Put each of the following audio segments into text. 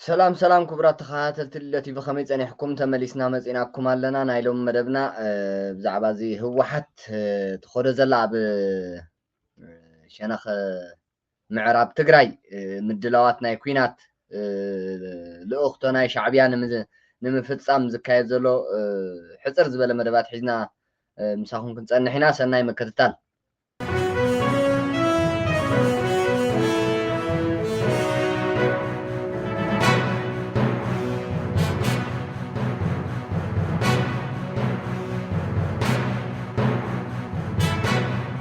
ሰላም ሰላም ክቡራት ተኸታተልቲ ልደት ቲቪ ከመይ ፀኒሕኩም? ተመሊስና መፂናኩም ኣለና። ናይ ሎሚ መደብና ብዛዕባ እዚ ህወሓት ትኸዶ ዘላ ኣብ ሸነኽ ምዕራብ ትግራይ ምድላዋት ናይ ኲናት ልእኽቶ ናይ ሻዕብያ ንምፍፃም ዝካየድ ዘሎ ሕፅር ዝበለ መደባት ሒዝና ምሳኹም ክንፀንሕ ኢና። ሰናይ ምክትታል።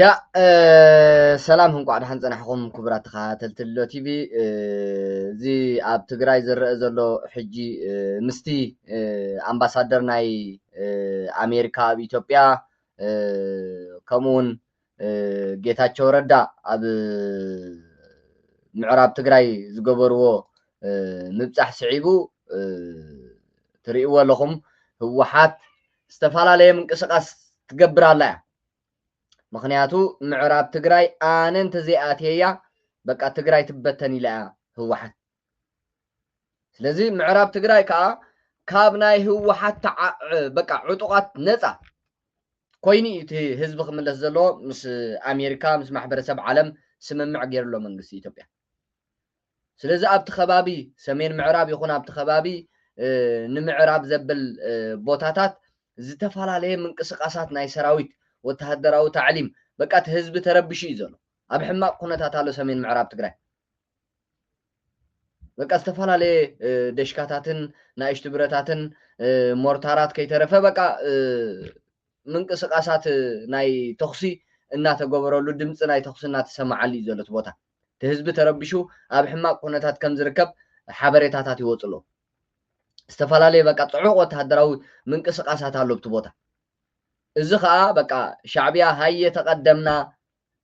ያ ሰላም እንቋዕ ደሓን ጸናሕኹም ክቡራት ተኸታተልቲ ሎ ቲቪ እዚ ኣብ ትግራይ ዝረአ ዘሎ ሕጂ ምስቲ ኣምባሳደር ናይ ኣሜሪካ ኣብ ኢትዮጵያ ከምኡውን ጌታቸው ረዳ ኣብ ምዕራብ ትግራይ ዝገበርዎ ምብፃሕ ስዒቡ ትርእይዎ ኣለኹም ህወሓት ዝተፈላለየ ምንቅስቃስ ትገብር ኣላ እያ ምክንያቱ ምዕራብ ትግራይ ኣነ እንተዘይኣትየያ በቃ ትግራይ ትበተን ኢላ እያ ህወሓት ስለዚ ምዕራብ ትግራይ ከዓ ካብ ናይ ህወሓት በቃ ዕጡቃት ነፃ ኮይኑ እዩ እቲ ህዝቢ ክምለስ ዘለዎ ምስ ኣሜሪካ ምስ ማሕበረሰብ ዓለም ስምምዕ ገይሩ ኣሎ መንግስቲ ኢትዮጵያ ስለዚ ኣብቲ ከባቢ ሰሜን ምዕራብ ይኹን ኣብቲ ከባቢ ንምዕራብ ዘብል ቦታታት ዝተፈላለየ ምንቅስቃሳት ናይ ሰራዊት ወተሃደራዊ ታዕሊም በቃ እቲ ህዝቢ ተረቢሹ እዩ ዘሎ ኣብ ሕማቅ ኩነታት ኣሎ ሰሜን ምዕራብ ትግራይ በቃ ዝተፈላለየ ደሽካታትን ናእሽቱ ብረታትን ሞርታራት ከይተረፈ በቃ ምንቅስቃሳት ናይ ተኹሲ እናተገበረሉ ድምፂ ናይ ተኹሲ እናተሰማዓሉ እዩ ዘሎ እቲ ቦታ እቲ ህዝቢ ተረቢሹ ኣብ ሕማቅ ኩነታት ከም ዝርከብ ሓበሬታታት ይወጹ ኣለዉ። ዝተፈላለየ በቃ ጽዑቕ ወተሃደራዊ ምንቅስቃሳት ኣሎ ኣብቲ ቦታ። እዚ ከኣ በቃ ሻዕብያ ሃየ ተቀደምና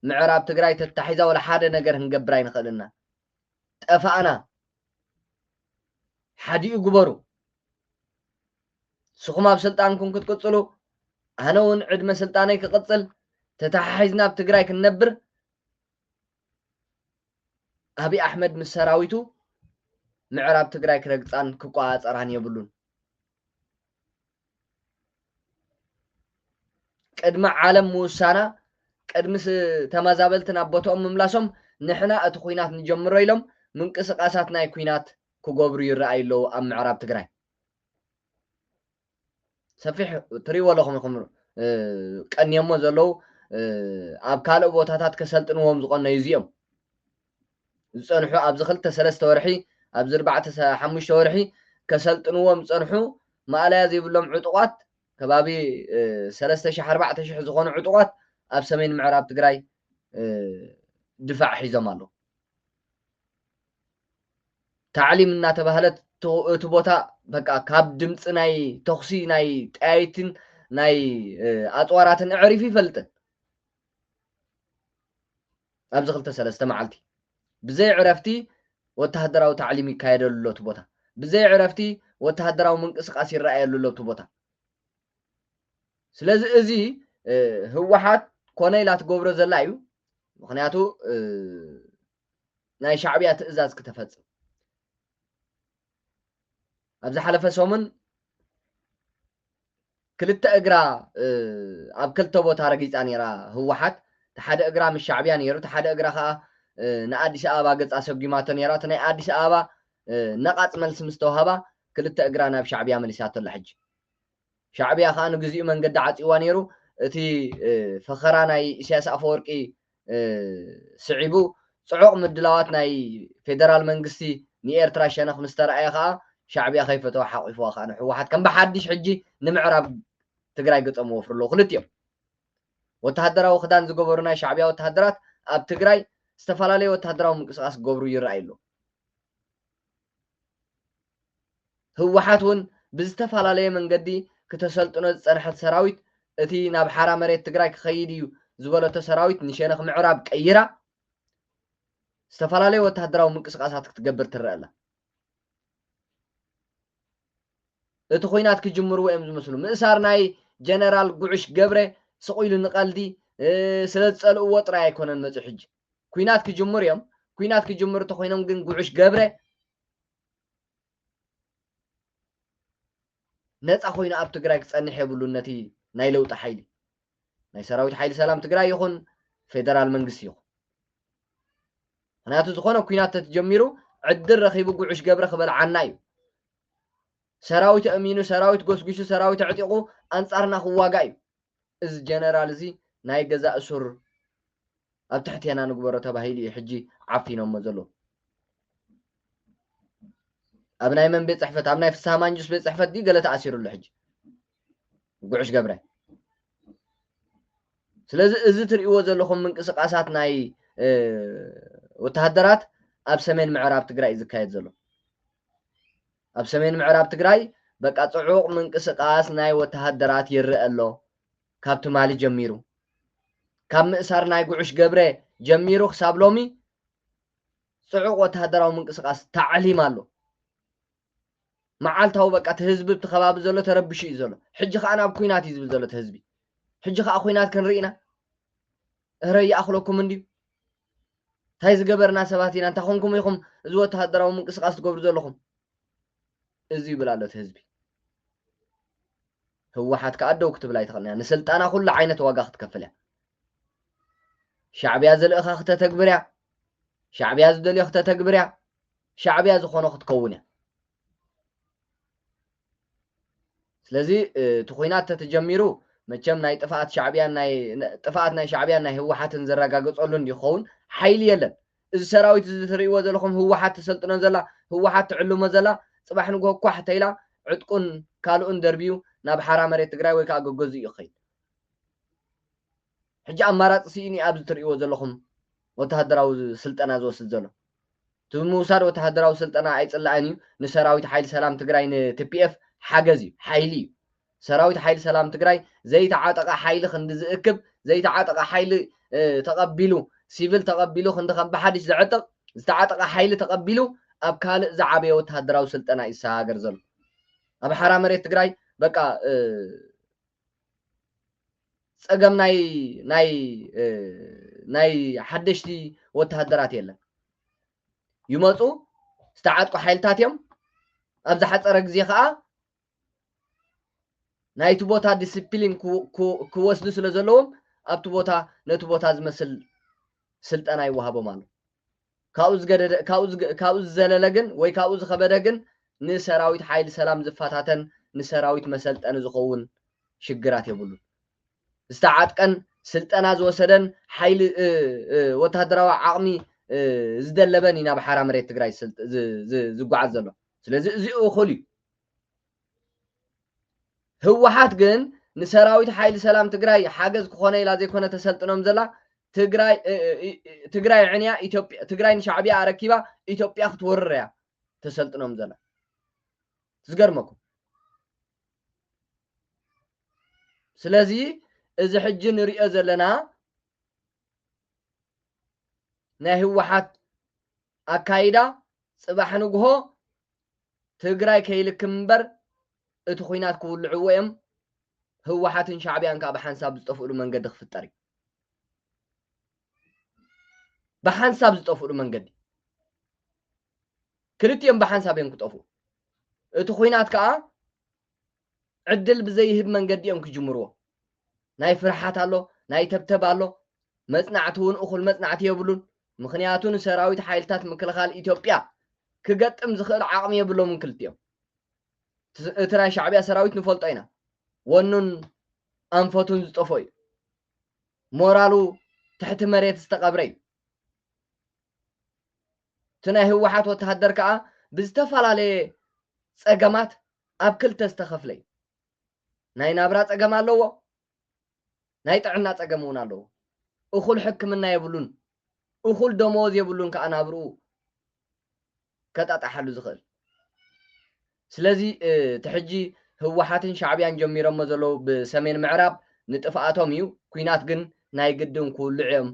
ምዕራብ ትግራይ ተታሒዛ ወላ ሓደ ነገር ክንገብር ኣይንኽእልና ጠፋእና ሓዲኡ ግበሩ ንስኹም ኣብ ስልጣንኩም ክትቅጽሉ ኣነ እውን ዕድመ ስልጣነይ ክቕጽል ተተሓሒዝና ኣብ ትግራይ ክንነብር ኣብይ ኣሕመድ ምስ ሰራዊቱ ምዕራብ ትግራይ ክረግፃን ክቆፃፀራን የብሉን። ቅድሚ ዓለም ምውሳና ቅድሚ ተመዛበልቲ ናብ ቦትኦም ምምላሶም ንሕና እቲ ኹናት ንጀምሮ ኢሎም ምንቅስቓሳት ናይ ኲናት ክገብሩ ይረኣዩ ኣለዉ ኣብ ምዕራብ ትግራይ። ሰፊሕ ትሪእዎ ኣለኹም ኢኹም ቀንየሞ ዘለዉ ኣብ ካልእ ቦታታት ከሰልጥንዎም ዝቐነዩ እዚኦም ዝፀንሑ ኣብዚ ክልተ ሰለስተ ወርሒ ኣብዚ ኣርባዕተ ሓሙሽተ ወርሒ ከሰልጥንዎም ዝፀንሑ ማእለያ ዘይብሎም ዕጡቋት ከባቢ ሰለስተ ሽሕ ኣርባዕተ ሽሕ ዝኾኑ ዕጡቋት ኣብ ሰሜን ምዕራብ ትግራይ ድፋዕ ሒዞም ኣለዉ ታዕሊም እናተባህለ እቲ ቦታ በቃ ካብ ድምፂ ናይ ተኹሲ ናይ ጠያይትን ናይ ኣፅዋራትን እዕሪፉ ይፈልጥን ኣብዚ ክልተ ሰለስተ መዓልቲ ብዘይ ዕረፍቲ ወተሃደራዊ ታዕሊም ይካየደሉ ኣሎ እቲ ቦታ ብዘይ ዕረፍቲ ወተሃደራዊ ምንቅስቃስ ይረኣየሉ ኣሎ እቲ ቦታ ስለዚ እዚ ህወሓት ኮነ ኢላ ትገብሮ ዘላ እዩ ምክንያቱ ናይ ሻዕብያ ትእዛዝ ክተፈፅም ኣብ ዝሓለፈ ሰሙን ክልተ እግራ ኣብ ክልተ ቦታ ረጊፃ ነይራ ህወሓት እቲ ሓደ እግራ ምስ ሻዕብያ ነይሩ እቲ ሓደ እግራ ከዓ ንኣዲስ ኣበባ ገፃ ሰጒማቶ ነይራ እቲ ናይ ኣዲስ ኣበባ ነቓፅ መልሲ ምስ ተዋህባ ክልተ እግራ ናብ ሻዕብያ መሊሳቶ ኣላ ሕጂ ሻዕብያ ከኣ ንግዚኡ መንገዲ ዓጽይዋ ነይሩ እቲ ፈኸራ ናይ ኢሳያስ ኣፈወርቂ ስዒቡ ጽዑቕ ምድላዋት ናይ ፌደራል መንግስቲ ንኤርትራ ሸነኽ ምስ ተራእየ ከኣ ሻዕብያ ከይፈተዋ ሓቂፍዋ ከኣ ንሕወሓት ከም ብሓድሽ ሕጂ ንምዕራብ ትግራይ ገጸም ወፍሩ ኣለዉ ክልቲኦም ወተሃደራዊ ክዳን ዝገበሩ ናይ ሻዕብያ ወተሃደራት ኣብ ትግራይ ዝተፈላለዩ ወተሃደራዊ ምንቅስቃስ ክገብሩ ይረኣዩ ኣለዉ ህወሓት እውን ብዝተፈላለየ መንገዲ ክተሰልጥኖ ዝፀንሐት ሰራዊት እቲ ናብ ሓራ መሬት ትግራይ ክኸይድ እዩ ዝበለቶ ሰራዊት ንሸነኽ ምዕራብ ቀይራ ዝተፈላለዩ ወተሃደራዊ ምንቅስቃሳት ክትገብር ትረአ ኣላ። እቲ ኩናት ክጅምርዎ እዮም ዝመስሉ ምእሳር ናይ ጀነራል ጉዑሽ ገብረ ስቑኢሉ ንቐልዲ ስለ ዝፀልእዎ ጥራይ ኣይኮነን መፅኡ ሕጂ ኩናት ክጅምሩ እዮም ኩናት ክጅምሩ ተኮይኖም ግን ጉዑሽ ገብረ ነፃ ኮይኑ ኣብ ትግራይ ክፀንሕ የብሉን ነቲ ናይ ለውጢ ሓይሊ ናይ ሰራዊት ሓይሊ ሰላም ትግራይ ይኹን ፌደራል መንግስቲ ይኹን ምክንያቱ ዝኾነ ኩናት ተጀሚሩ ዕድል ረኺቡ ጉዑሽ ገብረ ክበልዓና እዩ ሰራዊት እሚኑ ሰራዊት ጎስጒሱ ሰራዊት ኣዕጢቑ ኣንፃርና ክዋጋ እዩ እዚ ጀነራል እዚ ናይ ገዛ እሱር ኣብ ትሕቴና ንግበሮ ተባሂሉ እዩ ሕጂ ዓፊኖሞ ዘለዉ። ኣብ ናይ መን ቤት ጽሕፈት ኣብ ናይ ፍስሃ ማንጁስ ቤት ጽሕፈት ድዩ ገለ ተኣሲሩ ኣሎ ሕጂ ጉዕሽ ገብረ ስለዚ እዚ ትርእይዎ ዘለኹም ምንቅስቃሳት ናይ ወተሃደራት ኣብ ሰሜን ምዕራብ ትግራይ እዩ ዝካየድ ዘሎ ኣብ ሰሜን ምዕራብ ትግራይ በቃ ጽዑቕ ምንቅስቓስ ናይ ወተሃደራት ይረኣ ኣሎ ካብ ትማሊ ጀሚሩ። ካብ ምእሳር ናይ ጉዑሽ ገብረ ጀሚሩ ክሳብ ሎሚ ጽዑቕ ወተሃደራዊ ምንቅስቓስ ታዕሊም ኣሎ። መዓልታዊ በቃ እቲ ህዝቢ እቲ ከባቢ ዘሎ ተረብሹ እዩ ዘሎ። ሕጂ ከኣ ናብ ኩናት እዩ ዝብል ዘሎ እቲ ህዝቢ። ሕጂ ከኣ ኩናት ክንርኢ ኢና እረ ይኣኽለኩም እንድዩ። እንታይ ዝገበርና ሰባት ኢና እንታይ ኮንኩም ኢኹም እዚ ወተሃደራዊ ምንቅስቃስ ትገብሩ ዘለኹም እዚ ይብል ኣሎ እቲ ህዝቢ ህወሓት ከዓ ደው ክትብል ኣይትኽእልን እያ ንስልጣና ኩሉ ዓይነት ዋጋ ክትከፍል እያ ሻዕብያ ዝልእኻ ክተተግብር እያ ሻዕብያ ዝደልዮ ክተተግብር እያ ሻዕብያ ዝኾኖ ክትከውን እያ ስለዚ እቲ ኩናት ተተጀሚሩ መቸም ናይ ጥፍኣት ሻዕብያን ናይ ጥፍኣት ናይ ሻዕብያን ናይ ህወሓትን ዘረጋገጸሉ እንዲ ክኸውን ሓይሊ የለን እዚ ሰራዊት እዚ ትርእይዎ ዘለኹም ህወሓት ተሰልጥኖ ዘላ ህወሓት ትዕልሞ ዘላ ጽባሕ ንግሆ ኳሕ ተይላ ዕጥቁን ካልኡን ደርብዩ ናብ ሓራ መሬት ትግራይ ወይ ከዓ ገገዝኡ እዩ ክኸይድ ሕጂ ኣማራጺ ስኢኑ ዩ ኣብዚ ትርእይዎ ዘለኹም ወተሃደራዊ ስልጠና ዝወስድ ዘሎ። እቲ ምውሳድ ወተሃደራዊ ስልጠና ኣይጽላእን ዩ፣ ንሰራዊት ሓይሊ ሰላም ትግራይ ን tpf ሓገዝ ዩ፣ ሓይሊ ዩ። ሰራዊት ሓይሊ ሰላም ትግራይ ዘይተዓጠቐ ሓይሊ ክንዲ ዝእክብ፣ ዘይተዓጠቐ ሓይሊ ተቐቢሉ ሲቪል ተቐቢሉ ክንዲ ከም ብሓድሽ ዘዕጥቕ፣ ዝተዓጠቐ ሓይሊ ተቐቢሉ ኣብ ካልእ ዝዓበየ ወተሃደራዊ ስልጠና ዩ ዝሰጋገር ዘሎ። ኣብ ሓራ መሬት ትግራይ በቃ ፀገም ናይ ናይ ናይ ሓደሽቲ ወተሃደራት የለን ይመፁ ዝተዓጥቁ ሓይልታት እዮም ኣብ ዝሓፀረ ግዜ ከዓ ናይቲ ቦታ ዲስፕሊን ክወስዱ ስለ ዘለዎም ኣብቲ ቦታ ነቲ ቦታ ዝመስል ስልጠና ይወሃቦም ኣሎ ካብኡ ዝገደደ ካብኡ ዝዘለለ ግን ወይ ካብኡ ዝኸበደ ግን ንሰራዊት ሓይሊ ሰላም ዝፈታተን ንሰራዊት መሰልጠኒ ዝኸውን ሽግራት የብሉን። ዝተዓጥቀን ስልጠና ዝወሰደን ሓይሊ ወተሃደራዊ ዓቕሚ ዝደለበን እዩ ናብ ሓራ መሬት ትግራይ ዝጓዓዝ ዘሎ። ስለዚ እዚ እኹል እዩ። ህወሓት ግን ንሰራዊት ሓይሊ ሰላም ትግራይ ሓገዝ ክኾነ ኢላ ዘይኮነ ተሰልጥኖም ዘላ ትግራይ ትግራይ ዕንያ ኢትዮጵያ ትግራይ ንሻዕብያ ኣረኪባ ኢትዮጵያ ክትወርር እያ ተሰልጥኖም ዘላ ዝገርመኩም ስለዚ እዚ ሕጂ ንሪኦ ዘለና ናይ ህወሓት ኣካይዳ ፅባሕ ንግሆ ትግራይ ከይልክም እምበር እቲ ኹናት ክውልዕዎ እዮም ህወሓትን ሻዕቢያን ከዓ ብሓንሳብ ዝጠፍእሉ መንገዲ ክፍጠር እዩ ብሓንሳብ ዝጠፍእሉ መንገዲ ክልቲኦም ብሓንሳብ እዮም ክጠፍኡ እቲ ኹናት ከዓ ዕድል ብዘይህብ መንገዲ እዮም ክጅምርዎ። ናይ ፍርሓት ኣሎ፣ ናይ ተብተብ ኣሎ፣ መጽናዕቲ እውን እኹል መጽናዕቲ የብሉን። ምኽንያቱ ንሰራዊት ሓይልታት ምክልኻል ኢትዮጵያ ክገጥም ዝኽእል ዓቕሚ የብሎምን ክልቲኦም። እቲ ናይ ሻዕቢያ ሰራዊት ንፈልጦ ኢና፣ ወኑን ኣንፈቱን ዝጠፍኦ እዩ። ሞራሉ ትሕቲ መሬት ዝተቐብረ እዩ። እቲ ናይ ህወሓት ወተሃደር ከኣ ብዝተፈላለየ ጸገማት ኣብ ክልተ ዝተኸፍለ እዩ። ናይ ናብራ ጸገም ኣለዎ፣ ናይ ጥዕና ጸገም እውን ኣለዎ። እኹል ሕክምና የብሉን፣ እኹል ደመወዝ የብሉን ከኣ ናብርኡ ከጣጣሓሉ ዝኽእል ስለዚ እቲ ሕጂ ህወሓትን ሻዕብያን ጀሚሮሞ ዘለዉ ብሰሜን ምዕራብ ንጥፍኣቶም እዩ ኩናት ግን ናይ ግድን ክውልዑ እዮም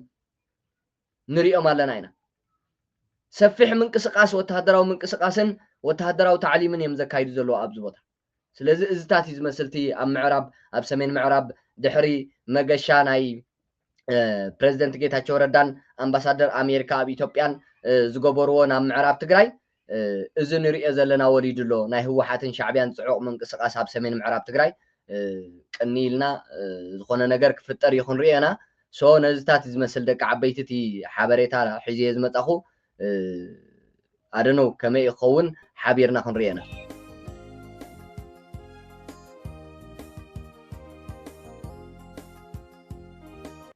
ንሪኦም ኣለና ኢና። ሰፊሕ ምንቅስቃስ ወተሃደራዊ ምንቅስቃስን ወተሃደራዊ ታዕሊምን እዮም ዘካይዱ ዘለዉ ኣብዚ ቦታ። ስለዚ እዝታት እዩ ዝመስል እቲ ኣብ ምዕራብ ኣብ ሰሜን ምዕራብ ድሕሪ መገሻ ናይ ፕረዚደንት ጌታቸው ረዳን ኣምባሳደር ኣሜሪካ ኣብ ኢትዮጵያን ዝገበርዎ ናብ ምዕራብ ትግራይ እዚ ንሪኦ ዘለና ወሪዱ ኣሎ ናይ ህወሓትን ሻዕቢያን ፅዑቕ ምንቅስቓስ ኣብ ሰሜን ምዕራብ ትግራይ ቅንይ ኢልና ዝኾነ ነገር ክፍጠር እዩ ክንሪኦ ኢና ሶ ነዚታት እዩ ዝመስል ደቂ ዓበይቲ እቲ ሓበሬታ ሒዘዮ ዝመፃኹ ኣደነው ከመይ እዩ ክኸውን ሓቢርና ክንሪኦ ኢና